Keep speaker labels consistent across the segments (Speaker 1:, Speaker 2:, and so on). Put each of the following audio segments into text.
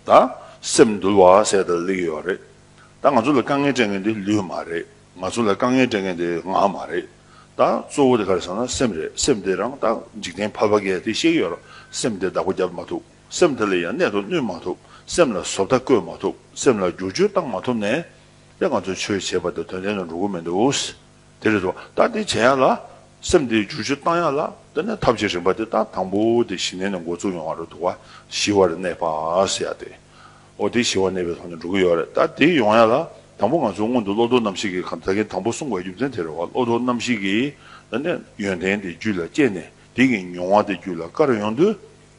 Speaker 1: ད་སེམས་འདུལ་བ་ཟེར་ད་ལེགས་ཡོད་རེད་ད་ང་ཚོ་ལ་དཀའ་ངལ་སྤྲད་མཁན་དེ་ལུས་མ་རེད་ང་ཚོ་ལ་དཀའ་ངལ་སྤྲད་མཁན་དེ་ངག་མ་རེད་ད་གཙོ་བོ་དེ་ག་རེད་ཟེར་ན་སེམས་རེད་སེམས་དེ་རང་ད་འཇིག་རྟེན་ཕ་བ་གས་དེ་གཤེགས་ཡོད་རང་སེམས་དེ་བདག་པོ་རྒྱབ་མ་ཐུབ་སེམས་དེ་ལ་ཡང་གནད་དུ་བསྣུན་མ་ཐུབ་སེམས་ལ་བཟོ་ལྟ་བཀོད་མ་ཐུབ་སེམས་ལ་བསྒྱུར་བཅོས་བཏང་མ་ཐུབ་ནས་དེ་ང་ཚོས་ཆོས་བྱེད་པ་དེ་དོན་ལྡན་དུ་འགྲོ་གི་མི་འདུག། དེ་རེད་དོ། ལྟ་དེ་བྱེད་ཡག་ལ། སེམས་དེ་བསྒྱུར་བཅོས་གཏང་ཡག་ལ། དེ་ནས་ཐབས་བྱེད་རིམ་པ་དེ་ལྟ་དང་པོ་དེ་ཞི་གནས་ནས་འགོ་བཙུགས་ཡོང་བ་རེད་འདུག་བ། ཞི་བ་རེ་གནས་པར་ཡག་སྟེ། འོ་དེ་ཞི་བ་གནས་པའི་ཐོག་ནས་འགྲོ་གི་ཡོད་རེད་ལྟ་དེ་ཡོང་ཡག་ལ། དང་པོ་ང་ཚོའི་སྔོན་དུ་བློ་དོར་རྣམ་གཞིག་གི་གང་ཟག་གི་དང་པོ་གསུངས་པའི་རྒྱུ་མཚན་དེ་རེད་བ། བློ་དོར་རྣམ་གཞིག་གི། དེ་ནས་ཡོན་ཏན་དེ་རྒྱུད་ལ་སྐྱེས་ནས་དེ་གི་མྱོང་བ་དེ་རྒྱུད་ལ་དཀར་ཡོང་དུས།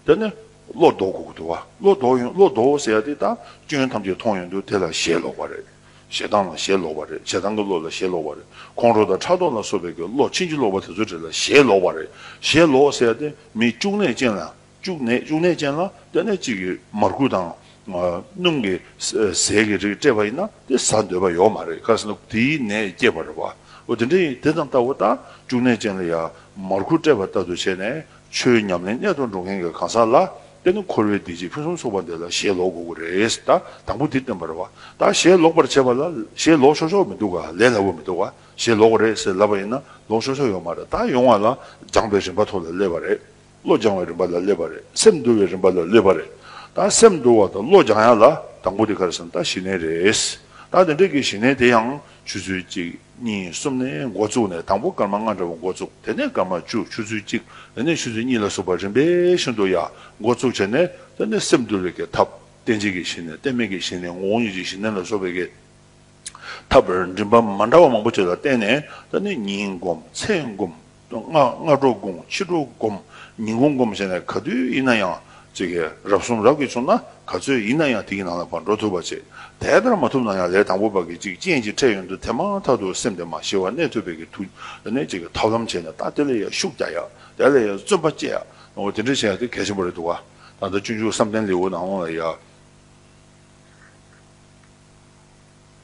Speaker 1: དེ་ནས་བློ་ལྡོག་དགོས་ཀྱི་འདུག་བ། བློ་ལྡོག་ཡོང་བློ་ལྡོག་ཟེར་ཡག་དེ་ལྟ་སྐྱོན་ཐམས་ཅད་མཐོང་ཡོང་དུས་དེ་ལ་ཞེ་ལོག་པ་རེད། ཞེ་སྡང་ལ་ཞེ་ལོག་པ་རེད་ཞེ་སྡང་གི་བློ་ལ་ཞེ་ལོག་པ་རེད་ཁོང་ཁྲོ་དང་ཕྲག་དོག་ལ་སོགས་པའི་གི་བློ་ཕྱིན་ཅི་ལོག་པ་དེ་ཚོ་དྲིས་ལ་ཞེ་ལོག་པ་རེད་ཞེ་ལོག་ཟེར་ཏེ་མི་སྐྱུག་ནད་ཅན་ལ་སྐྱུག་ནད་སྐྱུག་ནད་ཅན་ལ་ལྟས་ན་གཅིག་གིས་མར་ཁུ་དང། སྣུམ་གྱི་ཟས་ཀྱི་རིགས་སྤྲད་པ་ཡིན་ན་དེ་ཟ་འདོད་པ་ཡོད་མ་རེད་ག་ཟེར་ན་དེའི་ནད་སྐྱེད་པར་རེད་བ་འོ་དེ་འདྲ་ཡིན་དེ་དང་ལྟ་བུ་ལྟ་སྐྱུག་ནད་ཅན་ལ་ཡང་མར་ཁུ་སྤྲད་པ་ལྟ་བུ་བྱས་ནས་ཆོས་ཉམས་ལེན་གནད་དུ་འགྲོ་མཁན་གྱི་གང་ཟག་ལ་དཔེར་ན་འཁོར་བའི་བདེ་སྐྱིད་ཕུན་སུམ་ཚོགས་པ་འདི་ལ་ཞེ་ལོག་དགོས་ཀྱི་རེད་ད་དང་པོ་འདི་སྟོན་པར་བ་ད་ཞེ་ལོག་པར་བྱེད་པ་ལ་ཞེ་ལོག་ཆོག་ཆོག་མི་འདུག་ག་ལས་སླ་བོ་མི་འདུག་ག་ཞེ་ལོག་རེད་ཟེར་ལབ་པ་ཡིན་ན་ལོག་ཆོག་ཆོག་ཡོང་མ་རེད་ད་ཡོང་བ་ལ་སྦྱངས་པའི་རིམ་པ་ཐོག་ལ་སླེབས་པ་རེད་བློ་སྦྱང་བའི་རིམ་པ་ལ་སླེབས་པ་རེད་སེམས་འདུལ་བའི་རིམ་པ་ལ་སླེབས་པ་རེད་ད་སེམས་འདུལ་བ་དང་བློ་སྦྱང་ཡ་ལ་དང་པོ་དེ་ག་རེ་ཟེར་ན་ད་ཞི་གནས་རེད་ད་དེ་འདྲ་གི་ཞི་གནས་དེ་ཡང་ཆུ་ཚོད་གཅིག། གཉིས་གསུམ་ནས་མགོ་བཙུགས་ནས་དང་པོ་སྐར་མ་ལྔ་འདྲ་བོ་མགོ་བཙུགས་དེ་ནས་སྐར་མ་བཅུ་ཆུ་ཚོད་གཅིག་དེ་ནས་ཆུ་ཚོད་གཉིས་ལ་སོགས་པ་རིམ་པས་ཤིན་ཏུ་ཡག་མགོ་བཙུགས་བྱས་ནས་དེ་ནས་སེམས་བསྡུ་བའི་གེ་ཐབས་བརྟན་བྱེད་ཀྱི་ཞི་གནས་བརྟན་མེད་ཀྱི་ཞི་གནས་ངོ་བོ་ཉིད་ཀྱི་ཞི་གནས་ལ་སོགས་པའི་གེ་ཐབས་རིམ་པ་མ་འདྲ་བ་མང་པོ་བྱས་ལ་བརྟེན་ནས་དེ་ནས་ཉིན་བསྒོམ་ཚེས་བསྒོམ་མདོ་སྔགས་སྔ་དྲོ་བསྒོམ་ཕྱི་དྲོ་བསྒོམ་ཉིན་གུང་བསྒོམ་བྱས་ནས་ག་དུས་ཡིན་ན་ཡང་རབ་གསུམ་རབ་ཀྱིས་བྱུང་ན་ག་ཚོད་ཡིན་ན་ཡང་དེ་ཀྱི་ནང་ལ་བར་འགྲོ་ཐུབ་པ་བྱེད། དེ་ལྟར་མ་ཐུབ་ན་ཡང་ལས་དང་པོ་བར་གྱི་ཅིག་རྐྱེན་གྱི་ཕྲད་ཡོན་ཏུ་དེ་མ་ཐག་ཏུ་སེམས་དེ་མ་ཞི་བར་གནས་ཐུབ་པའི་གྱི་ཐུགས་ནས་ཐབས་ལམ་བྱས་ནས་ལྟ་དེ་ལ་ཡང་ཤུགས་རྒྱག་ཡ་དེ་ལ་ཡང་བརྩོན་པ་བསྐྱེད་ཡ་འོ་དེ་འདྲ་བྱས་ཡ་དེ་གལ་ཆེན་པོ་རེད་འདུག་ག་ད་ལྟ་སྤྱོད་འཇུག་བསམ་གཏན་ལེའུ་ནང་ལ་ཡང།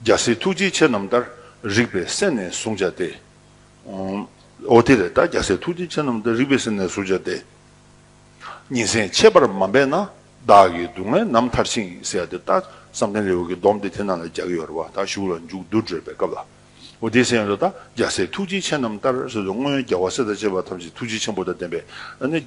Speaker 1: རྒྱལ་སྲས་ཐུགས་རྗེ་ཆེ་རྣམས་ལྟར་རིགས་པའི་གསན་ནས་གཟུང་བྱ་སྟེ། ཨོ་དེ་རེ་ད་རྒྱལ་སྲས་ཐུགས་རྗེ་ཆེ་རྣམས་ཏེ་རིག་པའི་སེམས་ནས་གཟུགས་བྱ་སྟེ། ཉིན་མཚན་ཕྱེད་པར་མ་འབད་ན་བདག་གི་སྡུག་བསྔལ་ནམ་མཐར་ཕྱིན་ཡིན་ཟེར་ཏེ་ལྟ། བསམ་གཏན་རི་བོ་གི་སྡོམ་སྟེ་དེ་རྣམས་ལ་རྒྱལ་གྱི་ཡོལ་བ་དག་ཞུགས་ལ་མཇུག་བསྡུ་བགྲོད་པའི་སྐབས་ལ། ཨོ་དེའི་སེམས་ཡོད་དོ་ད་རྒྱལ་སྲས་ཐུགས་རྗེ་ཆེ་རྣམས་ལྟར་སོད་དོ་སྔོན་རྒྱལ་བ་སྲས་དང་བཅས་པ་ཐམས་ཅད་ཐུགས་རྗེ་ཆེན་པོ་དང་ལྡན་པས་ནི།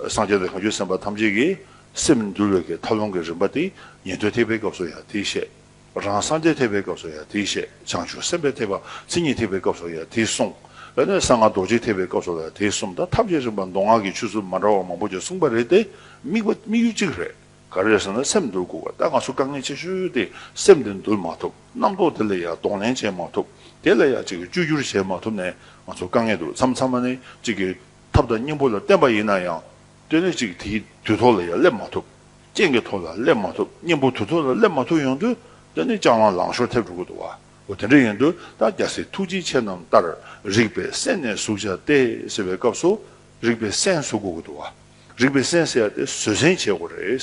Speaker 1: སངས་རྒྱས་དང་གང་ཆོས་སེམས་དཔའ་ཐམས་ཅད་ཀྱི་སེམས་འདུལ་བའི་གེགས་མཐའ་སློང་གི་རིམ་པ་སྟེ་ཉན་ཐོས་ཐེག་པའི་སྐབས་སུ་ཡང་དེའི་བཤད། རང་སངས་རྒྱས་ཐེག་པའི་སྐབས་སུ་ཡང་དེས་བཤད། བྱང་ཆུབ་སེམས་དཔའི་ཐེག་པ་མཚན་ཉིད་ཐེག་པའི་སྐབས་སུ་ཡང་དེས་གསུངས། དེ་ནས་གསང་སྔགས་རྡོ་རྗེ་ཐེག་པའི་སྐབས་སུ་ཡང་དེས་གསུངས་ད་ཐབས་ཤེས་རིམ་པར་མདོ་སྔགས་ཀྱི་ཆོས་ཚུལ་མ་འདྲ་བ་མང་པོ་ཞིག་གསུངས་པ་རེད་དེ། དམིགས་པ་དམིགས་ཡུལ་གཅིག་རེད། ག་རེ་ཟེར་ན་སེམས་འདུལ་དགོས་པ་ད་ང་ཚོ་དཀའ་ངལ་ཆེ་ཤོས་དེ་སེམས་དེ་འདུལ་མ་ཐུབ་རྣམ་རྟོག་དེ་ལ་ཡང་གདོང་ལེན་བྱེད་མ་ཐུབ་དེ་ལ་ཡང་ཅིག་གིས་བཅོས་བསྒྱུར་བྱེད་མ་ཐུབ་ནས་ང་ཚོ་དཀའ་ངལ་འདུག་མཚམས་མཚམས་མ་ནས་ཅིག་གིས་ཐབས་དང་སྙིང་པོ་ལ་བརྟེན་པ་ཡིན་ན་ཡང། སྟོན་ལས་གཅིག་དེའི་དུས་ཐོག་ལ་ཡང་སླེབས་མ་ཐུབ། རྐྱེན་གྱི་ཐོག་ལ་སླེབས་མ་ཐུབ་གཉེན་པོ་དུས་ཐོག་ལ་སླེབས་མ་ཐུབ་ཡོང་དུས་སྟོན་ནི་རྐྱང་ལང་ལང་ཤོར་ཐེབས་འགྲོ་གི་འདུག་བ་འོ་དེ་འདྲ་ཡིན་དུས་ད་རྒྱ་སེ་ཐུགས་རྗེ་ཆེ་རྣམས་ལྟར་རིག་པའི་གསན་ནས་གཟུགས་བྱ་སྟེ་ཟེར་བའི་སྐབས་སུ་རིག་པའི་གསན་གཟུགས་དགོས་ཀྱི་འདུག་བ་རིག་པའི་གསན་ཟེར་ཏེ་བཟོད་བསྲན་བྱེད་དགོས་རེད།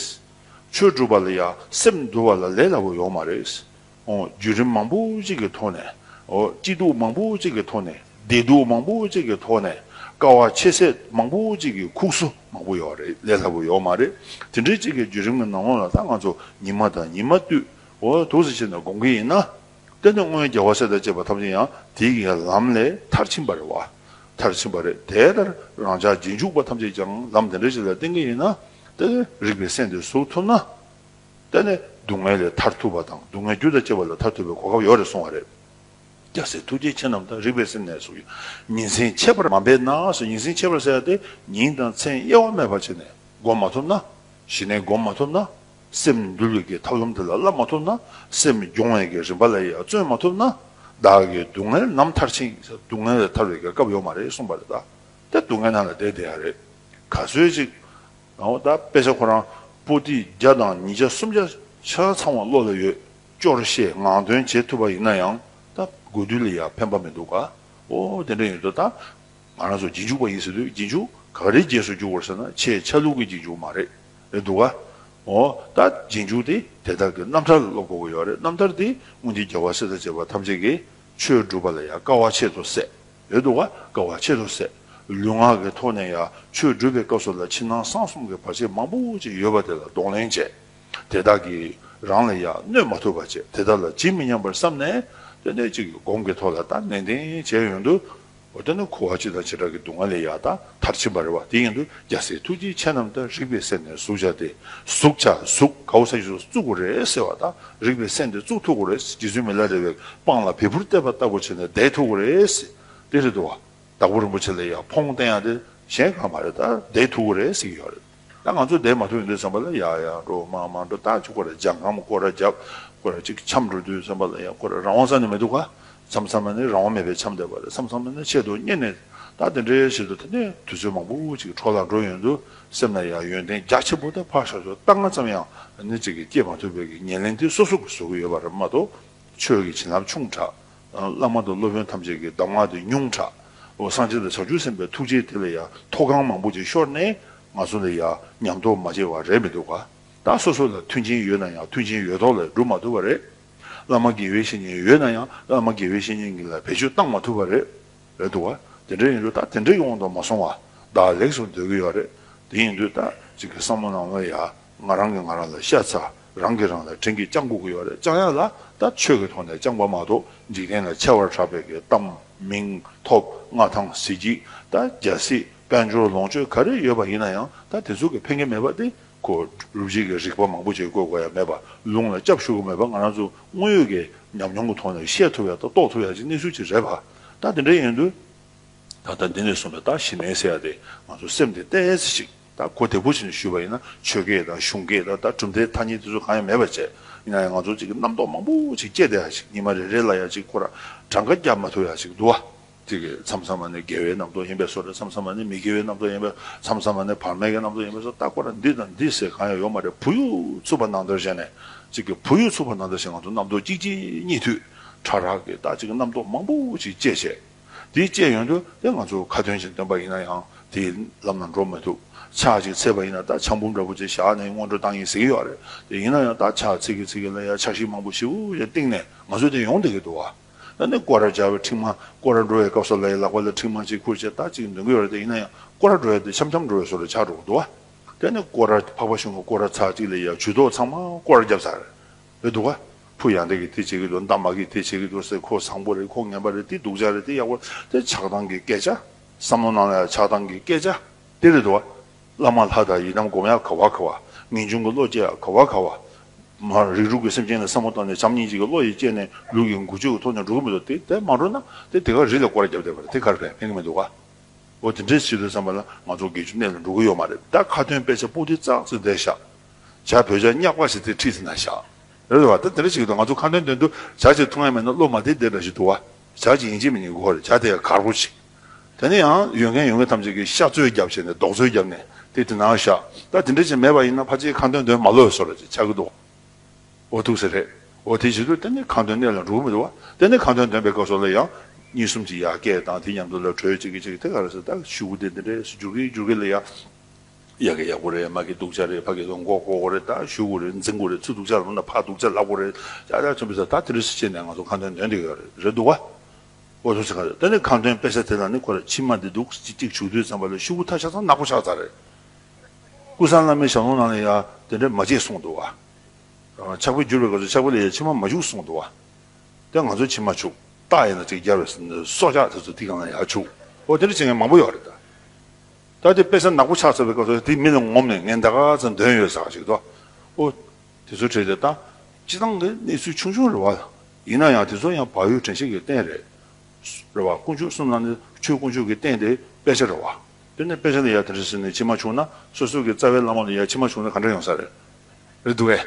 Speaker 1: ཆོས་སྒྲུབ་པ་ལ་ཡང་སེམས་འདུལ་བ་ལ་ལས་སླ་བོ་ཡོང་མ་རེད། བརྒྱུད་རིམ་མང་པོ་ཅིག་གི་ཐོག་ནས། སྐྱིད་སྡུག་མང་པོ་ཅིག་གི་ཐོག་ནས། བདེ་སྡུག་མང་པོ་ཅིག་གི་ཐོག་ནས། དཀའ་བ་ཆེ་ཚད་མང་པོ་ཅིག་གི་ཁུགས་སོ་མང་པོ་ཡོད་རེད་ལས་སླ་པོ་ཡོད་མ་རེད། དེ་འདྲའི་ཅིག་གི་བརྒྱུད་རིམ་གྱི་ནང་ལོགས་ལ་ད་ང་ཚོ་ཉི་མ་དང་ཉི་མ་དུས། དུས་སུ་ཕྱིན་ནས་དགོངས་ཀྱི་ཡིན་ན། དེ་ནི་སྔོན་རྒྱལ་བ་སྲས་དང་བཅས་པ་ཐམས་ཅད་ཡང་དེའི་གི་ལམ་ལས་མཐར་ཕྱིན་པ་རེད། བ་མཐར་ཕྱིན་པ་རེད། དེ་ལྟར་རང་ཅག་རྗེས་འཇུག་པ་ཐམས་ཅད་ཀྱང་ལམ་དེ་འདྲ་ཞིག་ལ་བསྟེན་གྱི་ཡིན་ན། དེ་ལས་རིགས་པའི་སྲས་འདི་གཟུགས་ཐུབ་ན། དེ་ནི་སྡུག་བསྔལ་ལས་ཐར་ཐུབ་པ་དང་སྡུག་བསྔལ་རྒྱུ་དང་བཅས་པ་ལས་ཐར་ཐུབ་པའི་གོ་སྐབས་ཡོད་རེད་གསུངས་བ་རེད། སྐྱ་སེར་ཐུགས་རྗེ་ཆེ་རྣམས་དང་རིག་པའི་སེམས་ནས་སུ་ཡང་ཉིན་མཚན་ཆད་པར་མ་འབད་ན་སུ་ཉིན་མཚན་ཆད་པར་ཟེར་ཏེ་ཉིན་དང་མཚན་དབྱེ་བ་མེད་པར་བྱས་ནས་བསྒོམ་མ་ཐུབ་ན། ཞི་གནས་བསྒོམ་མ་ཐུབ་ན། སེམས་འདུལ་བའི་གི་ཐབས་ལམ་དེ་ལ་བསླབ་མ་ཐུབ་ན། སེམས་སྦྱོང་བའི་གི་རིམ་པ་ལ་ཡང་བརྩོན་མ་ཐུབ་ན། བདག་གི་སྡུག་བསྔལ་ནམ་ཐར་ཕྱིན་གྱི་སྡུག་བསྔལ་ལས་ཐར་བའི་གི་སྐབས་ཡོད་མ་རེད་གསུངས་པ་རེད་ད། དེ་སྡུག་བསྔལ་ནང་ལ་བསྡད་བསྡད་ཡག་རེད། ག་ཚོད་ཅིག་ང་འོ་ད་དཔེ་ཆ་ཁོ་རང་པོ་ཏི་བརྒྱ་དང་ཉིས་བརྒྱ་སུམ་བརྒྱ་ཆ་ཚང་བ་བློ་ལ་ཡོད་ཅོར་བཤད་ངང་དོན་བྱེད་ཐུབ་པ་ཡིན་ན་ཡང་ད་དགོས་དུས་ལ་ཡང་ཕན་པ་མི་འདུག་ག་འོ་དེ་འདྲ་ཡིན་དུས་ད་ང་རང་ཚོ་རྗེས་འཇུག་པ་ཡིན་ཟེར་དུས་རྗེས་འཇུག་ག་རེའི་རྗེས་སུ་འཇུག་བར་ཟེར་ན་ཆེས་ཆ་ལུགས་ཀྱི་རྗེས་འཇུག་མ་རེད་རེད་འདུག་ག་འོ་ད་རྗེས་འཇུག་དེ་དེ་དག་གི་རྣམ་ཐར་ལ་སློབ་དགོས་ཀྱི་ཡོད་རེད་རྣམ་ཐར་དེ་སྔོན་གྱི་རྒྱལ་བ་སྲས་དང་བཅས་པ་ཐམས་ཅད་ཀྱིས་ཆོས་བསྒྲུབ་པ་ལ་ཡང་དཀའ་བ་ཆེས་མཐོ་སད། ཡོད་དུ་བ་དཀའ་བ་ཆེ་རུ་ཟད། ལུས་ངག་གི་ཐོག་ནས་ཡང་ཆོས་སྒྲུབ་པའི་སྐབས་སུ་ལ་ཕྱི་ནང་གསང་གསུམ་གྱི་བར་ཆད་མང་པོ་ཅིག་ཡོད་པ་དེ་ལ་གདོང་ལེན་བྱས། དེ་དག་གིས་རང་ལ་ཡང་གནོད་མ་ཐུབ་པ་བྱས་དེ་དག་ལ་ཇི་མི་སྙམ་པར་བསམས་ནས། སྟོན་ཟླ་གཅིག་གི་དགོང་གི་ཐོག་ལ་ལྟ་ནན་ཏན་བྱས་ཡོང་དུས། འོ་ད་ནི་ཁུ་བ་སྤྱི་དང་བྱེ་བྲག་གི་སྡུག་བསྔལ་ལས་ཡང་དག་མཐར་ཕྱིན་པར་རེ་བ་དེ་ཡིན་དུས་རྒྱལ་སྲས་ཐུགས་རྗེའི་ཆེ་རྣམས་ལྟར་རིག་པའི་གསེབ་ནས་གཟུགས་བྱ་སྟེ། གཟུགས་བྱ་གཟུགས་ག་བུ་ས་གཞི་སུ་བཙུགས་པ་རེད་ཟེར་བ་དང་རིག་པའི་སེམས་དེ་གཙུག་ཐུག་གོ་རེ། རྗེ་བཙུན་མི་ལ་རས་པའི་པང་ལ་བལ་བུར་གཏད་པ་ལྟ་བུ་བྱས་ནས་བརྡེག་ཐུག་གོ་རེ། དེ་རེད་དོ། དྭགས་པོ་རིན་པོ་ཆེ་ལ་ཡག་ཕོང་བསྟན་ཡག་དེ་གཞན་གང་མ་རེད་ད་བརྡེག་ཐུག་གོ་རེ་ཟིག་ཡོད་རེད་ད་ང་ཚོ་བརྡེག་མ་ཐུག་ཡོང་དུས་བསམ་པ་ལ་ཡག་ཡག་འགྲོ་མ་མ་འགྲོ་ལྟ་ཆོག་གོ་རེ་ལྗང་ཁམ་སྐོར་ར་རྒྱབ་སྐོར་ར་ཅིག་འཁྱམ་འགྲོ་དུས་བསམ་པ་ལ་ཡག་གོ་རེ་རང་དབང་ས་ནས་མེད་འདུག་ག་བསམ་བསམ་ན་ནི་རང་དབང་མེད་པའི་འཁྱམ་བསྡད་པ་རེད་བསམ་བསམ་ན་ནི་ཆེད་དུ་རྙེད་ནས་ད་དེ་འདྲའི་ཞིག་ཏུ་ད་ནི་དུས་ཚོད་མང་པོ་ཅིག་འཕྲོ་བརླག་འགྲོ་ཡོང་དུས་སེམས་ལ་ཡང་ཡོན་ཏན་རྒྱ་ཆེན་པོ་དང་ཕར་ཞབས་ཞོར་རྟ་རྔ་ཙམ་ཡང་ནི་ཅིག་གིས་སྐྱེད་མ་ཐུབ་པའི་ཉེར་ལེན་དེ་སོ་སོ་གིས་བཟོ་གི་ཡོད་པ་རབ་མ་ཏོ། ཆོས་ཀྱི་བྱིན་རླབས་ཆུང་དྲགས། བླ་མ་དང་སློབ་དཔོན་ཐམས་ཅད་ཀྱི་གདམས་ངག་དེ་ཉུང་དྲགས། འོ་སངས་རྒྱས་དང་བྱང་ཆུབ་སེམས་དཔའི་ཐུགས་རྗེའི་དེ་ལ་ཡང་མཐོ་སྒང་མང་པོ་ཅིག་ཤོར་ནས་ང་ཚོ་ལ་ཡང་ཉམས་རྟོགས་མ་བྱས་བ་རེད་མི་འདུག་ག་ད་སོ་སོ་ལ་མཐུན་རྐྱེན་ཡོད་ན་ཡང་མཐུན་རྐྱེན་ཡོད་ཐོག་ལ་སྒྲུབ་མ་ཐུབ་པ་རེད། བླ་མ་དགེ་བའི་བཤེས་གཉེན་ཡོད་ན་ཡང་བླ་མ་དགེ་བའི་བཤེས་གཉེན་གྱི་ལ་བེད་སྤྱོད་བཏང་མ་ཐུབ་པ་རེད། རེད་འདུག་བ། དེ་འདྲ་ཡིན་དུས་ད་དེ་འདྲའི་ཡོང་དུ་མ་སོང་བ། བདག་ལེགས་སུ་སྡོད་ཀྱི་ཡོད་རེད། དེ་ཡིན་དུས་ད་ཅིག་གི་བསམ་བློ་ནང་ལ་ཡ། ང་རང་གིས་ང་རང་ལ་ཤ་ཚ། རང་གིས་རང་ལ་དྲིན་གྱིས་བཅངས་དགོས་ཀྱི་ཡོད་རེད་བཅངས་ཡ་ལ་ད་ཆོས་ཀྱི་ཐོག་ནས་བཅངས་པ་མ་གཏོགས་འཇིག་རྟེན་ལ་ཆེ་བར་གྲགས་པའི་གི་གཏམ་མིང་ཐོབ་མངའ་ཐང་གཟི་བརྗིད་ད་རྒྱ་སྲིད་དཔལ་འབྱོར་ལོངས་སྤྱོད་ག་རེ་ཡོད་པ་ཡིན་ན་ཡང་ད་དེ་ཚོ་གི་ཕན་གྱི་མེད་པ་སྟེ་གོ། རུབ་བྱེད་ཀྱི་རིག་པ་མང་པོ་ཅིག་བཀོལ་དགོས་ཡ་མེད་པ་ལུང་ལ་སྐྱབས་ཞུ་དགོས་མེད་པ་ང་རང་ཚོ་དངོས་ཡོད་ཀྱི་ཉམས་མྱོང་གི་ཐོག་ནས་ཤེས་ཐུབ་ཡ་དང་རྟོགས་ཐུབ་ཡ་ཅིག་གནས་ཚུལ་ཅིག་རེད་བ། ད་དེ་འདྲ་ཡིན་དུས། ད་ལྟ་འདི་ནས་བཟུང་སྟེ་ད་ཞི་མེད་ཟེར་ཡ་དེ་ང་ཚོ་སེམས་དེ་གཏད་ཡས་ཤིག་ད་གོ་བདེ་པོ་བྱས་ནས་ཞུས་པ་ཡིན་ན་ཆོས་སྐད་དང་གཞུང་སྐད་དང་ད་གྲུབ་མཐའི་ཐ་སྙད་དེ་ཚོ་གང་ཡང་མེད་པ་བྱས་ཡིན་ན་ཡང་ང་ཚོ་གཅིག་གི་རྣམ་རྟོག་མང་པོ་ཅིག་སྐྱེ་བསྡད་ཡ་ཞིག་ཉི་མ་རེ་རེ་ལ་ཡང་གཅིག་ཁོ་ར་གྲངས་ཀ་བརྒྱབ་མ་ཐུབ་ཡ་ཞིག་འདུག་བ། དེ་གི་མཚམས་མཚམས་མ་ནས་དགེ་བའི་རྣམ་རྟོག་ཡིན་པས་སོ་རེད་མཚམས་མཚམས་མ་ནས་མི་དགེ་བའི་རྣམ་རྟོག་ཡིན་པས་མཚམས་མཚམས་མ་ནས་བར་མེད་ཀྱི་རྣམ་རྟོག་ཡིན་པས་སོ་ད་ཁོ་ར་འདི་དང་འདི་ཟེར་གང་ཡང་ཡོད་མ་རེད་བུ་ཡུག་ཚུགས་པ་ནང་དོན་བྱས་ནས་གཅིག་གི་བུ་ཡུག་ཚུགས་པ་ནང་དོན་བྱས་ང་ཚོ་རྣམ་རྟོག་གཅིག་རྗེས་གཉིས་མཐུད། ཕྲ་རགས་ཀྱི་བདག་གཅིག་རྣམ་རྟོག་མང་པོ་ཞིག་སྐྱེས་བྱས། དེ་སྐྱེས་ཡོང་དུས་དེ་ང་ཚོར་ཁ་ཏོན་ཅིང་སྟོན་པ་ཡིན་ན་ཡང་དེའི་ལམ་ལ་འགྲོ་མི་ཐུབ། ཆག་གཅིག་ཚེས་པ་ཡིན་ན་ད་ཆག་འབུམ་འདྲ་པོ་ཅིག་བཞག་ནས་སྔོན་འགྲོ་བཏང་ཡིན་ཟེར་གྱི་ཡོད་རེད་དེ་ཡིན་ན་ཡང་ད་ཆག་ཚེས་ཀྱི་ཚེས་ཀྱི་ལ་ཡ་ཆག་ཤིག་མང་པོ་ཞིག་ཞེས་གཏིང་ནས་ང་ཚོས་དེ་ཡོང་བསྡད་ཀྱི་འདུག་ད་ནི་སྐོར་ར་སྦྱར་བའི་ཁྲིག་མ་སྐོར་ར་འགྲོ་བའི་སྐབས་སོ་ལ་ཡི་ལག་པ་ལ་ཁྲིག་མ་གཅིག་ཁུར་བྱས་ད་གཅིག་འདོན་གྱི་ཡོད་རེད་དེ་ཡིན་ན་ཡང་སྐོར་ར་འགྲོ་བའི་དུས་འཆམ་འཆམ་འགྲོ་བའི་སོ་ལ་ཆག་འགྲོ་གི་འདུག་ད་ནི་སྐོར་ར་འཕགས་པ་བྱུང་བ་སྐོར་ར་ཚག་གཅིག་ལ་ཡ་ཇུས་གཏོགས་ཚང་མ་སྐོར་ར་བརྒྱབ་ཚར་རེད་འདུག་ག། ཕུ་ཡང་དེ་གིས་དེ་བྱེད་ཀྱི་འདུག་མདའ་མ་གིས་དེ་བྱེད་ཀྱི་འདུག་ཟེར་ཁོ་བཟང་པོ་རེད་ཁོ་ངན་པ་རེད་དེ་སྡུག་ཅག་རེད་དེ་ཡག་པོ་རེད་དེ་ཆགས་སྡང་གི་སྐད་ཆ། བསམ་བློ་གནང་ན་ཡང་ཆགས་སྡང་གི་སྐད་ཆ། དེ་རེད་འདུག་ག། བླ་མ་ལྷ་དང་ཡི་དམ་སྒོམ་ཡང་ག་བ་ག་བ། ངེས་འབྱུང་གི་བློ་སྐྱེ་ཡང་ག་བ་ག་བ། རིགས་དྲུག་གི་སེམས་ཅན་ལ་བསམ་བློ་བཏང་ནས་བྱམས་སྙིང་རྗེ་གི་བློ་ཡིས་བསྐྱེད་ནས་ལུས་ཀྱི་འགུལ་སྤྱོད་ཀྱི་ཐོག་ནས་འགྲོ་གི་མི་འདུག་དེ་དེ་མ་འགྲོ་ན་དེ་དེ་ག་རི་ལ་སྐོར་བརྒྱབ་བསྡད་པ་རེད་དེ་གར་ཕན་ཕན་གྱི་མི་འདུག་ག། འོ་དེ་འདྲའི་བྱེད་དུ་བསམ་པ་ན་ང་ཚོ་དགེ་བཅུ་གནས་ལ་འགྲོ་གི་ཡོད་མ་རེད་ད་ཁ་ཏོན་དཔེ་ཆ་སྤུ་གྲི་ཙག་ཙིག་བསྡད་བཞག། བྱ། བོད་བྱ་སྙག་པ་ཞིག་དེ་ཁྲིད་ཟིན་ན་བཞག། རེད་དེ་བ་ད་དེ་འདྲ་ཞིག་གི་དོན་ང་ཚོ་ཁ་འདོན་འདོན་དུ་བྱ་ཅིག་ཐུགས་ངན་མེད་ན་སློབ་མ་དེ་དེ་འདྲ་ཞིག་འདུག་བ་བྱ་ཅིག་ཡིན་གཅིག་མིན་གཅིག་གོ་རེ་བྱ་དེ་གར་པོ་ཅིག་དེ་ནས་ཡང་ཡོད་མཁན་ཡོད་མཁན་ཐམས་ཅད་ཀྱིས་ཤ་བཙོས་རྒྱབ་བྱས་ནས་རྡོག་བཙོས་རྒྱབ་ནས་དེ་དེ་ན་བཞག་ད་དེ་འདྲ་ཞིག་མེད་པ་ཡིན་ན་ཕ་ཅིག་ཁ་འདོན་འདོན་མ་ལོས་སོ་རེ་ཅིག་བྱ་གི་འདུག་འོ་ཐུགས་ཟེར་རེད་འོ་དེ་བྱེད་དུས་དེ་ནས་ཁ་འདོན་གནད་ལ་འགྲོ་གི་མི་འདུག་བ་དེ་ནས་ཁ་འདོན་འདོན་པའི་སྐབས་སོགས་ལ་ཡང་གཉིས་གསུམ་གྱི་ཡར་སྐད་དང་དེ་མཉམ་དུ་ལ་གྲོས་བྱེད་ཀྱི་བྱེད་ཀྱི་དེ་ག་རེ་ཟེར་ད་བཞུགས་དེ་འདི་འདྲས་སུ་འགྱུར་གི་འགྱུར་གི་ལ་ཡ། ཡག་གི་ཡག་པོ་རེད་མ་གི་སྡུག་ཅག་རེད་ཕ་གི་དོན་གོ་གོ་རེད་ད་ཞུ་གོ་རེད་འཛིན་གོ་རེད་ཚུ་སྡུག་ཅག་རུང་ད་ཕ་སྡུག་ཅག་ལབ་གོ་རེད་ཅག་ཅག་ཆེན་པོ་ཟེར་ད་དེ་རིས་སུ་བཅད་ནས་ང་ཚོ་ཁང་དོན་འདོན་དེ་ཡོད་རེད་རེད་འདུག་བ། འོ་ཚོ་ཚེ་གང་རེད་ད་ནི་ཁང་དོན་སྤེལ་ས་དེ་དང་ནི་ཁོ་རེད་ཕྱི་མ་འདི་འདུག་ཅིག་ཅིག་བྱུག་དུས་ཙམ་པ་ལ་ཤུ་གུ་ཐ་ཤག་ཚང་ནག་པོ་ཤག་ཚག་རེད། ཀུན་བཟང་བླ་མའི་ཞབས་ལོང་ནང་ལ་ཡང་དེ་འདྲ་མ་བྱེད་གསུངས་འདུག་བ། ཆག་པའི་འགྱུར་བའི་སྐབས་སུ་ཆག་པའི་ལས་ཡ་ཕྱི་མ་མ་བྱུག་གསུངས་འདུག་བ། དེ་ང་ཚོའི་ཕྱི་མ་བྱུག་རྟགས་ཡིན་ན་ཅིག་རྒྱ་བའི་སྲོག་ཆགས་དེ་ཚོ་དེ་གང་ལ་ཡང་བྱུག་འོ་དེ་འདྲ་བྱེད་མཁན་མང་པོ་ཡོད་རེད་ད། ད་ལྟའི་དཔེ་ཆ་ནག་པོ་ཆགས་ཚར་བའི་སྐབས་སུ་དེ་མིག་ལ་ངོམ་ནས་ངས་འདའ་ག་ཚོད་འདོན་ཡོད་ཟེར་ཞིག་དོ། ཨོ། དེ་ཚོའི་གྲས་དེ་དང། སྤྱི་བཏང་གི་གནས་ཚུལ་ཆུང་ཆུང་རེ་བ། ཡིན་ན་ཡང་དེ་ཚོ་ཡང་བག་ཡོད་དྲན་ཤེས་ཀྱི་རྟེན་རེད། རེ་བ། དཀོན་མཆོག་གསུམ་ལ་ནི་ཆོས་དཀོན་མཆོག་གི་རྟེན་དེ་དཔེ་ཆ་རེ་བ། དེ་ནི་དཔེ་ཆ་ལ་ཡ་དེ་འདྲ་ཟེར་ནས་ཕྱི་མ་བྱུང་ན་སོ་སོ་གི་རྩ་བའི་བླ་མ་ལ་ཡ་ཕྱི་མ་བྱུང་ན་ག་འདྲ་ཡོང་ས་རེད། རེད་འདུག་གས།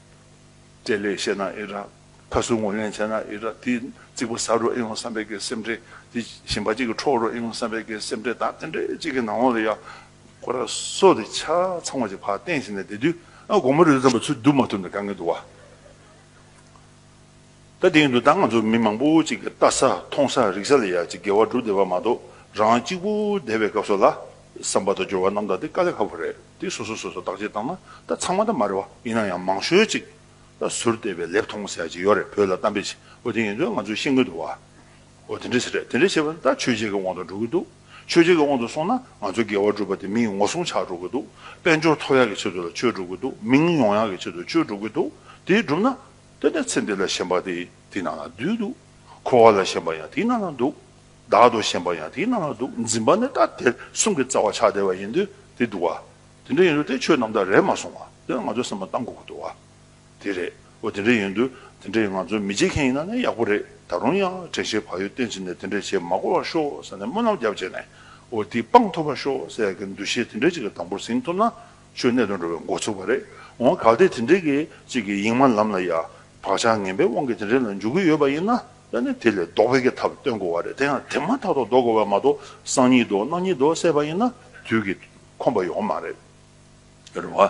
Speaker 1: སྤྲེལ་ལད་བཤད་ན་ཨེ་རག། ཁ་སུ་ངོ་ལེན་བྱས་ན་ཨེ་རག་དེ་རྩིག་པ་ཟ་རུ་ཨེ་ཡོང་བསམ་པའི་གེ་སེམས་འདྲེ་དེ་ཞིམ་པ་གཅིག་གི་འཕྲོག་རུ་ཨེ་ཡོང་བསམ་པའི་གེ་སེམས་འདྲེ་དང་ཨེ་འདྲེ་གཅིག་གི་ནང་འོག་ལ་ཡག་ཁོ་ར་སོ་དེ་ཆ་ཚང་བ་ཅིག་ཕར་བསྟན་ཞིག་ནས་དེ་དུས་དགོང་མོ་རི་རྩམ་པ་ཚུར་བསྡུ་མ་ཐུབ་ནས་དགའ་ངེས་འདུག་བ། ད་དེང་དུ་ད་ང་ཚོ་མི་མང་པོ་ཅིག་ལྟ་ས་མཐོང་ས་རིག་ས་ལ་ཡ་ཅིག་འགལ་བ་འགྲོ་བདེ་བ་མ་གཏོགས་རང་གཅིག་པུ་བསྡད་པའི་སྐབས་སོགས་ལ། བསམ་པ་དང་སྦྱོར་བ་རྣམ་དག་དེ་དཀའ་ལས་ཁག་པོ་རེད་དེ་སོ་སོ་སོ་སོ་བརྟག་དཔྱད་བཏང་ན་ད་ཚང་མ་ད་མ་རེད་བ་ཡིན་ན་ཡང་མང་ཤོས་ཅིག་ད་ཟུར་བལྟས་པའི་ལེབ་མཐོང་ས་ཅིག་ཡོད་རེད་བོད་ལ་གཏམ་དཔེ་བྱས་འོ་དེ་ཡིན་དུས་ང་ཚོའི་ཤེས་མཁན་དུ་བ་འོ་དེ་འདྲས་རེད་དེ་འདྲས་བྱས་པ་ད་ཆོས་བྱེད་ཀྱི་དབང་དུ་འགྲོ་གི་འདུག་ཆོས་བྱེད་ཀྱི་དབང་དུ་སོང་ན་ང་ཚོ་འགལ་བ་སྒྲུབ་པ་དེ་མི་ཡི་ངོ་སྲུང་ཆགས་འགྲོ་གི་འདུག་དཔལ་འབྱོར་མཐོ་ཡག་གི་ཆེད་དུ་ལ་ཆོས་སྒྲུབ་གི་འདུག་མིང་ཡོང་ཡག་གི་ཆེད་དུ་ཆོས་སྒྲུབ་གི་འདུག་དེ་སྒྲུབ་ན། ལྟོས་ན་ཚེ་འདི་ལ་ཞེན་པ་དེ་དེའི་ནང་ན་འདུས་འདུག། འཁོར་བ་ལ་ཞེན་པ་ཡང་དེའི་ནང་ན་འདུག། བདག་ཏུ་ཞེན་པ་ཡང་དེའི་ནང་ན་འདུག་འཛིན་པ་ནི་ལྟ་དེ་གསུམ་གྱི་རྩ་བ་ཆགས་བྲལ་བ་ཡིན་དུས་དེ་འདུག་བ། དེ་འདྲ་ཡིན་དུས་དེ་ཆོས་རྣམ་དག་རེད་མ་སོང་བ། དེ་ནི་ང་ཚོའི་སེམས་པ་གཏང་དགོས་ཀྱི་འདུག་བ། དེ་རེད། འོ་དེ་འདྲ་ཡིན་དུས་དེ་འདྲས་ང་ཚོ་མི་བྱེད་མཁན་ཡིན་ན་ནི་ཡག་པོ་རེད། ད་རུང་ཡང་དྲན་ཤེས་བག་ཡོད་བརྟན་བྱས་ནས་དེ་འདྲས་བྱེད་མ་གོ་བར་ཤོག་ཟེར་ནས་སྨོན་ལམ་རྒྱབ་བྱས་ནས་འོ་དེའི་དཔང་ཐོབ་པར་ཤོག་ཟེར་ཡག་གི་འདུ་ཤེས་དེ་འདྲས་གཅིག་གི་དང་པོར་ཟིན་ཐུབ་ན། ཆོས་གནད་དུ་འགྲོ་བའི་འགོ་ཚུགས་པ་རེད། འོང་གལ་ཏེ་དེ་འདྲའི་གི་ཅིག་གི་ཡིག་མ་ལམ་ལ་ཡ། བག་ཆགས་ངན་པའི་དབང་གིས་དེ་འདྲའི་ལ་འཇུག་གི་ཡོད་པ་ཡིན་ན་ད་ནི་དེ་ལས་ལྡོག་པའི་གི་ཐབས་སྟོན་དགོས་བ་རེད་དེ་ཡང་དེ་མ་ཐག་ཏུ་ལྡོག་དགོས་བ་མ་གཏོགས་སང་ཉིད་དུ་གནངས་ཉིད་དུ་བསད་པ་ཡིན་ན་དུས་གི་ཁོམ་པ་ཡོང་མ་རེད། རེད་བ།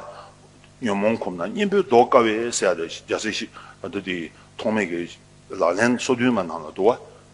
Speaker 1: ཉོན་མོངས་ཁོམ་ན་གཉེན་པོའི་ལྡོག་དཀའ་བས་བསད་རེད་རྒྱ་སེ་ཞིག་ད་དུ་དེ་ཐོག་མེད་གི་ལག་ལེན་སོ་བདུན་མ་རྣམས་ལ་འདུ་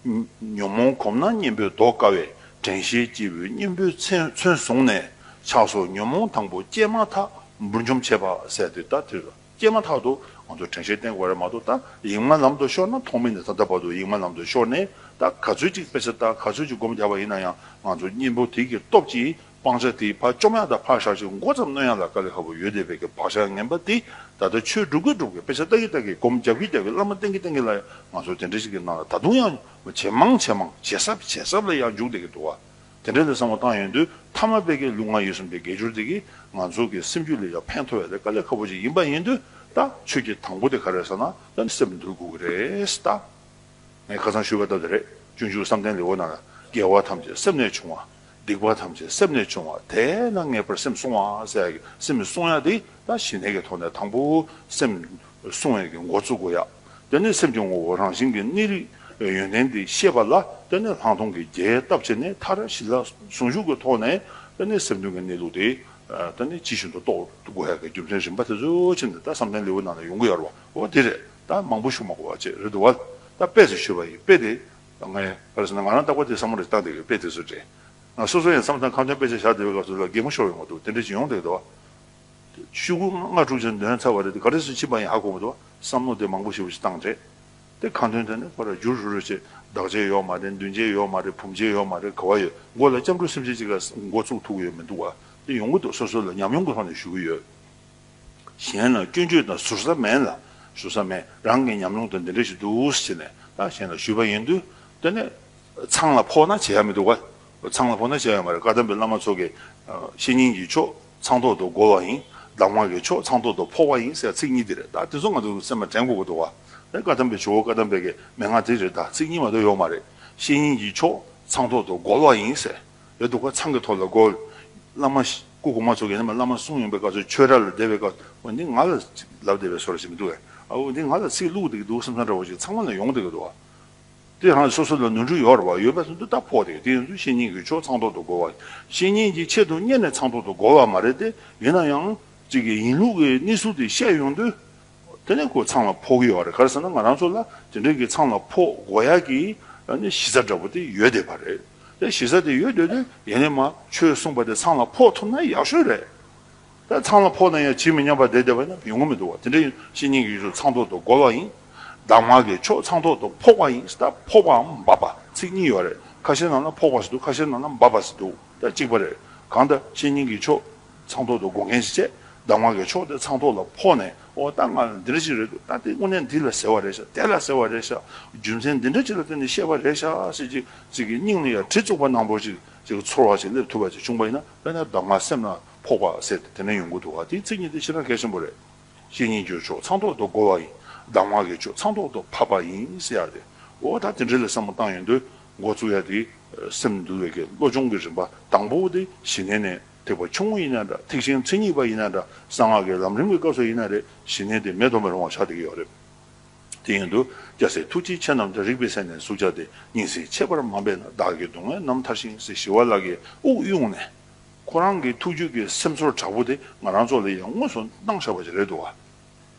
Speaker 1: བ། ཉོན་མོངས་གོམས་ན་གཉེན་པོས་བཟློག་དཀའ་བས་དྲན་ཤེས་སྐྱེས་བུའི་གཉེན་པོའི་མཚོན་བཟུང་ནས་ཆགས་སོ་ཉོན་མོངས་དང་པོ་སྐྱེས་མ་ཐག་འབུར་འཇོམས་བྱེད་པ་ཟད་དེ་ད་ཐེར་སྐྱེས་མ་ཐག་ཏུ་ང་ཚོ་དྲན་ཤེས་བརྟན་དགོས་རེད་མ་གཏོགས་ད་ཡིག་མ་ལམ་དུ་ཤོར་ན་ཐོག་མེད་ནས་ད་ལྟ་བར་དུ་ཡིག་མ་ལམ་དུ་ཤོར་ནས་ད་ག་ཚོད་ཅིག་སྤེལ་ས་ད་ག་ཚོད་ཅིག་སྒོམ་བསྡད་པ་ཡིན་ན་ཡང་ང་ཚོ་གཉེན་པོ་དེ་གི་སྟོབས་ཀྱིས་སྤང་བྱ་དེའི་བར་བཅོམ་ཡང་དག་འཕགས་ཞག་གཅིག་མགོ་ཙམ་གནོན་ཡང་དག་ཀཱ་ལི་ཧ་བུ་ཡོས་དེ་བས་ཀྱི་བག་ཆགས་ངན་པ་འདི་ད་ལྟ་ཆོས་སྒྲུབ་ཀྱི་སྒྲུབ་ཀྱི་དཔེ་ཆ་ལྟ་གི་ལྟ་གི་སྒོམ་རྒྱབ་ཀྱི་རྒྱབ་ཀྱི་བླ་མ་བསྟེན་གྱི་བསྟེན་གྱི་ལ་ཡང་ང་ཚོ་དེ་འདྲ་ཞིག་གི་ནང་ལ་ད་དུང་ཡང་ཇེ་མང་ཇེ་མང་ཇེ་ཟབ་ཇེ་ཟབ་ལ་ཡང་འཇུག་བསྡད་ཀྱི་འདུག་བ་དེ་འདྲ་ལས་བཟང་བོ་བཏང་ཡོད་དུས་མཐའ་མ་དཔལ་ཀྱི་ལུགས་ང་ཡིད་གསུམ་དེ་དགེ་སྦྱོར་འདི་གིས་ང་ཚོ་གི་སེམས་རྒྱུད་ལ་ཡང་ཕན་ཐོགས་ཡ་ལེ་ཀཱ་ལི་ཧ་བུ་ཅིག་ཡིན་པ་ཡིན་དུས་ད་ཆོས་ཀྱི་དང་པོ་དེ་ག་རེད་ཟེར་ན་ད་ནི་སེམས་འདུལ་དགོས་ཀྱི་རེད་ད། ངས་ཁ་ཚང་ཞུས་པ་ལྟར་དེ་རེད་སྤྱོད་འཇུག་བསམ་གཏན་ལེའུ་ནང་ལ་རྒྱལ་བ་ཐམས་ཅད་སེམས་ལས་བྱུང་བ་སྡིག་པ་ཐམས་ཅད་སེམས་ལས་བྱུང་བ་དེ་ལ་ངེས་པར་སེམས་བསྲུང་བ་ཟེར་ཡ། སེམས་བསྲུང་ཡ་འདི་ལ་ཞི་གནས་ཀྱི་ཐོག་ནས་དང་པོ་སེམས་བསྲུང་བའི་གི་འགོ་བཙུགས་དགོས་ཡ། དེ་ནས་སེམས་ཀྱི་ངོ་བོ་རང་བཞིན་གྱི་གནས་རིགས་ཡོན་ཏན་དེ་ཤེས་པ་ལ་བརྟེན་ནས་ལྷག་མཐོང་གི་རྒྱས་བཏབ་བྱས་ནས་མཐར་གཞི་ལ་ཟུང་འཇུག་གི་ཐོག་ནས་དེ་ནས་སེམས་དོན་གྱི་གནས་ལུགས་དེ་ནས་ཇི་བཞིན་དུ་རྟོགས་དགོས་ཡ་གི་རྒྱུ་མཚན་རིམ་པ་དེ་ཚོ་ཕྱི་ནས་བསམ་གཏན་ལེའུ་ནང་ནས་ཡོང་གི་ཡ་རོ་འོ་དེ་རེད་ད་མང་པོ་ཞུ་མ་གོ་བ་བཅས་རེད་འདུག་བ་ད་དཔེ་ཚོ་ཞུས་པ་ཡིན་དཔེ་དེ་ང་ཡིན། བར་སོང་ན་ང་རང་རྟག་པར་དེ་བསམ་བློ་རེ་བཏང་བསྡད་ཡོད་དཔེ་དེ་ཚོ་རེད། ང་སོ་སོ་ཡང་བསམ་བསམ་ཁང་ཆེན་དཔེ་ཆ་བཞག་བསྡད་པའི་སྐབས་སུ་ལ་རྒས་མོ་ཤོར་བའི་ངོ་ཐུག་དེ་འདྲའི་ཇི་ཡོང་བསྡད་ཡོད་དོ། ཤུ་གུ་ལྔ་དྲུག་ཅན་འདོན་ཚར་བ་རེད་དེ་ག་རེ་སུ་ཕྱིན་པ་ཡིན་ཧ་གོ་མི་ཐུབ་བསམ་བློ་དེ་མང་པོ་ཞིག་བཞི་བཏང་རེད་དེ་ཁ་འདོན་དོན་ནི་ཁོ་ར་རྒྱུར་ཧྲུལ་ཧྲུལ་བྱེད་བདག་བྱེད་ཡོད་མ་རེད་མདུན་བྱེད་ཡོད་མ་རེད་བུམ་བྱེད་ཡོད་མ་རེད་ག་བ་ཡོད་མགོ་ལ་སྐྱབས་འགྲོ་སེམས་ཅན་གཅིག་ལ་མགོ་བཙུགས་ཐུག་ཡོད་མི་འདུག་བ་དེ་ཡོང་གི་འདུག་སོ་སོ་ལ་ཉམས་མྱོང་གི་ཐོག་ནས་ཞུ་གི་ཡོད། གཞན་ལ་སྐྱོན་བརྗོད་དང་ཟུར་ཟ་མེད་ལ། ཟུར་ཟ་མེད་རང་གི་ཉམས་མྱོང་དང་འདི་འདྲ་ཞིག་འདུག་ཟེར་ནས་ད་གཞན་ལ་ཞུས་པ་ཡིན་དུས་དེ་ནི། ཚང་ལ་ཕོག་ན་བྱས་ཡ་མི་འདུག་ག། ཚང་ལ་ཕོག་ན་བྱས་ཡ་མ་རེད་བཀའ་གདམས་པའི་བླ་མ་ཚོ་གི། བཤེས་གཉེན་གྱི་ཕྱོགས་ཚང་ཐོག་ཏུ་རྒོལ་བ་ཡིན། གདམས་ངག་གི་ཕྱོགས་ཚང་ཐོག་ཏུ་ཕོག་པ་ཡིན་ཟེར་ཚིག་གཉིས་དེ་རེད་ད་དེ་ཚོ་ང་ཚོ་སེམས་པ་དྲན་དགོས་པ་འདུག་ག། བཀའ་གདམས་པའི་ཇོ་བོ་བཀའ་གདམས་པའི་གི་མན་ངག་དེ་རེད་ད་ཚིག་གཉིས་མ་གཏོགས་ཡོག་མ་རེད། བཤེས་གཉེན་གྱི་ཕྱོགས་ཚང་ཐོག་ཏུ་རྒོལ་བ་ཡིན་ཟེར། རེད་འདུག་ག་ཚང་གི་ཐོག་ལ་སྒོ་བླ་མ་སྐུ་གོང་མ་ཚོ་གི་ནས་མ་བླ་མ་གསུང་ཡོང་པའི་སྐབས་སུ་ཆོས་གྲྭ་ལ་བསྡད་པའི་སྐབས་འོ་འདི་ང་ལ་ལབ་བསྡད་པའི་སོ་ར་ཞིག་མི་འདུག་གས་འོ་འདི་ང་ལ་ཚིག་བླུག་བསྡད་ཀྱི་འདུག་བསམ་བསམ་འདྲ་བོ་ཞིག་ཚང་མ་ལ་ཡོང་བསྡད་ཀྱི་འདུག་དེ་ཡང་སོ་སོ་ལ་ནོར་འཁྲུལ་ཡོད་རེད་བ་ཡོད་པས་སོ་འདི་ལྟར་ཕོག་བསྡད་ཀྱི་དེ་ཡིན་དུས་བཤེས་གཉེན་གྱིས་ཆོག་ཚང་ཐོག་ཏུ་སྒོ་བ་བཤེས་གཉེན་གྱིས་ཆེད་དུ་གཉེར་ནས་ཚང་ཐོག་ཏུ་སྒོ་བ་མ་རེད་དེ་ཡིན་ན་ཡང་གཅིག་གིས་ཡིན་ལུགས་ཀྱི་གནས་ཚུལ་དེ་བཤད་ཡོང་དུས། དེ་ནས་སྒོ་ཚང་ལ་ཕོག་གི་ཡོད་རེད་ག་རེ་ཟེར་ན་ང་རང་ཚོ་ལ་དེ་འདྲའི་གི་ཚང་ལ་ཕོག་སྒོ་ཡག་གི་གཞི་རྩ་འདྲ་པོ་དེ་ཡོད་བསྡད་པ་རེད་དེ་གཞི་རྩ་དེ་ཡོད་བསྡད་དེ་ཡིན་ནས་མ་ཆོས་གསུངས་པ་དེ་ཚང་ལ་ཕོག་ཐུབ་ན་ཡག་ཤོས་རེད་དེ་ཚང་ལ་ཕོག་ན་ཡང་ཇི་མི་སྙམ་པ་བསྡད་བསྡད་པ་ན་ཡོང་གི་མི་འདུག་བ་དེ་འདྲ་ཡིན་ཕྱི་ཉིན་གི་ཆོས་ཚང་ཐོག་ཏུ་སྒོ་ལ་ཡིན་གདམས་ངག་གི་ཆོས་ཚང་ཐོག་ཏུ་ཕོག་པ་ཡིན་སྟབས་ཕོག་པའམ་འབབ་པ་ཚིག་གཉིས་ཡོད་རེད་ཁ་ཤས་ནང་ན་ཕོག་པ་ཟེར་འདུག་ཁ་ཤས་ནང་ན་འབབ་པ་ཟེར་འདུག་ད་གཅིག་པ་རེད་གང་ལྟར་ཕྱི་ཉིན་གི་ཆོས། ཚངས་ཐོག་ཏུ་སྒོ་ངའི་སྤྱད་བདག་མ་གའི་མཆོག་དེ་ཚངས་ཐོག་ལ་ཕོག་ནས་ཨོ་ལྟ་ང་ལ་འདི་འདྲ་ཅིག་རེ་འདུག་ལྟ་དེ་དངོས་གནས་འདི་ལ་ཟེར་བ་རེད་ཤག་དེ་ལ་ཟེར་བ་རེད་ཤག་རྒྱུ་མཚན་འདི་འདྲ་ཅིག་ལ་བརྟེན་ནས་བཤད་པ་རེད་ཤག་ཟེར་གྱིས་ཅིག་གིས་སྙིང་ནས་ཡར་དྲི་བཙུགས་པ་ནང་པོ་ཅིག་ཅིག་གི་ཚོར་བ་ཅིག་སླེབས་ཐུབ་པ་ཅིག་བྱུང་པ་ཡིན་ན་དཔེར་ན་བདག་མ་སེམས་ན་ཕོག་པ་ཟེར་ཏེ་དེ་འདྲ་ཡོང་གི་འདུག་ཨ་དེའི་ཚིག་གཉིས་དེ་ཕྱིར་ན་གལ་ཆེན་པོ་རེད། ཤེས་ཉིན་གྱི་མཆོག་ཚངས་ཐོག་ཏུ་བསྒོ་བ་ཡིན་བདག་མ་གའི་མཆོག་ཚངས་ཐོག་ཏུ་ཕབ་པ་ཡིན་ཟེར་ཡག་སྟེ་ཨོ་ལྟ་དེ་འདྲ་ལ་བསམ་བློ་བཏང་ཡོང་དུས་མགོ་བཙུགས་ཡ་དེའི་སེམས་འདུལ་བའི་དགེ་སློབ་སྦྱོང་གི་རིམ་པ་དང་པོ་དེ་ཞི་གནས་ནས། ཐེག་པ་ཆུང་ངུ་ཡིན་ན་འདྲ་ཐེག་ཆེན་མཚན་ཉིད་པ་ཡིན་ན་འདྲ་གསང་སྔགས་ཀྱི་ལམ་རིམ་གྱི་སྐབས་སུ་ཡིན་ན་རེ་ཞི་གནས་དེ་མེད་དོ་མི་རུང་བ་ཆགས་འདི་གི་ཡོག་རེད། དེ་ཡིན་དུ་སྐྱ་སེར་ཐུགས་རྗེ་ཆེ་རྣམས་ཀྱང་རིག་པའི་སེམས་ནས་ཟུག་བྱ་སྟེ་སྙིང་སེ་ཆེ་བར་མ་འབད་ན་བདག་གི་སྡུག་བསྔལ་རྣམས་མཐར་ཤིང་སེ་ཞི་བ་ལག་གི་དབུགས་དབྱུང་ནས། ཁོ་རང་གི་ཐུགས་རྒྱུད་ཀྱི་སེམས་ཚོར་དྲག་པོ་དེ་ང་རང་ཚོ་ལ་ཡང་དངོས་སུ་གནང་བཞག་པ་ཞིག་རེད་འདུག་བ།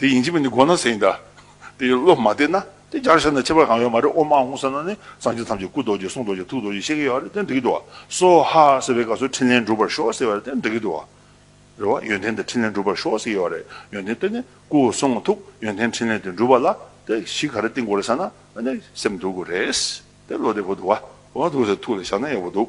Speaker 1: དེ་ཡིན་གྱི་མིན་ནི་དགོངས་ན་ཟེར་ཡིན་ད། དེ་ཡི་བློ་མ་བདེ་ན། དེ་སྦྱར་བྱས་ན་ཁྱད་པར་གང་ཡོད་མ་རེད་ཨོ་མ་འོང་ཟེར་ན་ནི་སངས་རྒྱས་ཐམས་ཅད་སྐུ་རྡོ་རྗེ་གསུང་རྡོ་རྗེ་ཐུགས་རྡོ་རྗེ་ཤེས་ཀྱི་ཡོད་ཨ་རེ་དེ་འགྲིག་གི་འདུག་ཨ། སོ་ཧ་ཟེར་བའི་སྐབས་སུ་འཕྲིན་ལན་འགྲུབ་པར་ཤོག་ཟེར་བ་རེད་དེ་འགྲིག་གི་འདུག་ཨ། རེད་བ། ཡོན་ཏན་དེ་འཕྲིན་ལན་འགྲུབ་པར་ཤོག་ཟེར་གྱི་ཡོད་རེད་ཡོན་ཏན་དེ་ནི་སྐུ་གསུང་ཐུགས་ཡོན་ཏན་འཕྲིན་ལན་དེ་འགྲུབ་པ་ལ་དེ་གཞི་ག་རེ་བཏིང་དགོས་རེད་ཟེར་ན་ནི་སེམས་སྡུག་གི་རེད། དེ་བློ་བདེ་པོ་འདུག་ཨ། འོ་འདུག་ཟེར་ཐུགས་ལ་བཞག་ན་ཡག་པོ་འདུག།